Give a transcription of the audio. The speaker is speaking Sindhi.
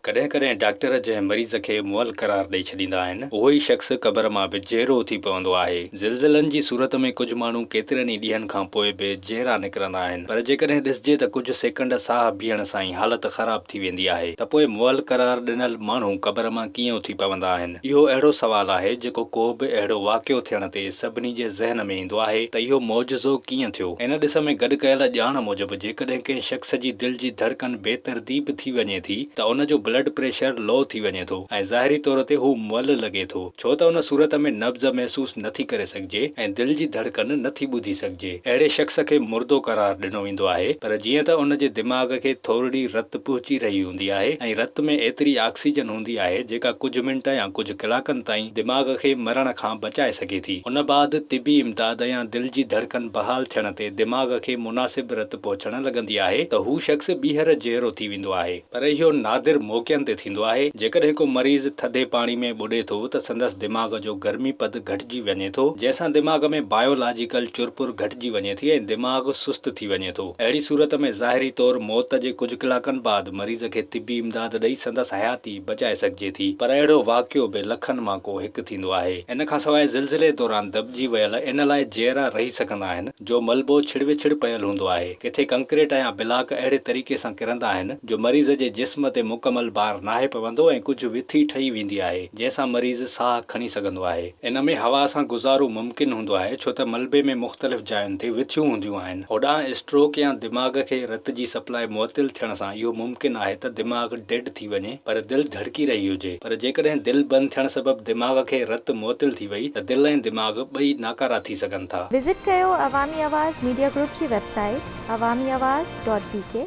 ڪڏهن ڪڏهن ڊاڪٽر جنهن مريض کي مئل قرار ڏئي ڇڏيندا آهن، اهو ئي شخص قبر مان به جيئرو اٿي پوندو آهي. زلزلن جي صورت ۾ ڪجهه ماڻهو ڪيترن ئي ڏينهن کان پوء به جيئرا نڪرندا آهن، پر جيڪڏهن ڏسجي ته ڪجهه سيڪنڊ ساهه بيهڻ سان ئي حالت خراب ٿي ويندي آهي، ته پوء مئل قرار ڏنل ماڻهو قبر مان ڪيئن اٿي پوندا آهن؟ اهو اهڙو سوال آهي جيڪو ڪو به اهڙو واقعو ٿيڻ تي سڀني جي ذهن ۾ ايندو آهي ته اهو معجزو ڪيئن ٿيو؟ ان ڏس ۾ گڏ ڪيل ڄاڻ موجب جيڪڏهن ڪنهن شخص جي دل جي ڌڙڪن بي ترتيب ٿي وڃي ٿي ته ان جو بلڊ پريشر لو ٿي وڃي ٿو ۽ ظاهري طور تي هو مئل لڳي ٿو ڇو ته ان صورت ۾ نبض محسوس نٿي ڪري سگهجي ۽ دل جي ڌڙڪن نٿي ٻڌي سگهجي اهڙي شخص کي مردو قرار ڏنو ويندو آهي پر جيئن ته ان جي دماغ کي ٿورڙي رت پهچي رهي هوندي آهي ۽ رت ۾ ايتري آڪسيجن هوندي آهي جيڪا ڪجهه منٽ يا ڪجهه ڪلاڪن تائين دماغ کي مرڻ کان بچائي سگهي ٿي. ان بعد طبي امداد يا دل جي ڌڙڪن بحال ٿيڻ تي دماغ کي مناسب رت پهچڻ لڳندي آهي ته هو شخص ٻيهر جهرو ٿي ويندو آهي. پر اهو نادر موقعن تي ٿيندو آهي. جيڪڏهن ڪو مريض ٿڌي پاڻي ۾ ٻڏي ٿو ته سندس دماغ جو گرمي پد گهٽجي وڃي ٿو جنهن سان دماغ ۾ بايولاجيڪل چرپر گهٽجي وڃي ٿي ۽ دماغ سست ٿي وڃي ٿو. اهڙي صورت ۾ ظاهري طور موت جي ڪجهه ڪلاڪن بعد مريض کي طبي امداد ڏئي سندس حياتي بچائي سگهجي ٿي پر اهڙو واقعو به لکن مان ڪو هڪ ٿيندو آهي. ان کان سواء زلزلي دوران دٻجي ويل ان لاء جيئرا رهي سگهندا آهن جو ملبو ڇڙوڇڙ پيل هوندو آهي. ڪٿي ڪنڪريٽ يا بلاڪ اهڙي طريقي سان ڪرندا آهن جو مريض جي جسم تي مڪمل بار ناهي پوندو ۽ ڪجهه وٿي ٺهي ويندي آهي جنهن سان مريض ساهه کڻي سگهندو آهي. ان ۾ هوا سان گذارو ممڪن هوندو آهي ڇو ته ملبي ۾ مختلف جاين تي وٿيون هونديون آهن. هوڏانهن اسٽروڪ يا دماغ کي رت جي سپلاء معطل ٿيڻ سان اهو ممڪن آهي ته دماغ ڊيڊ ٿي وڃي پر دل ڌڙڪي رهي هجي پر جيڪڏهن دل بند ٿيڻ سبب دماغ کي رت معطل ٿي وئي ته دل ۽ دماغ ٻئي ناڪارا ٿي سگهن ٿا. وزٽ ڪيو عوامي آواز ميڊيا گروپ جي website Awami Awaz dot بي ڪي.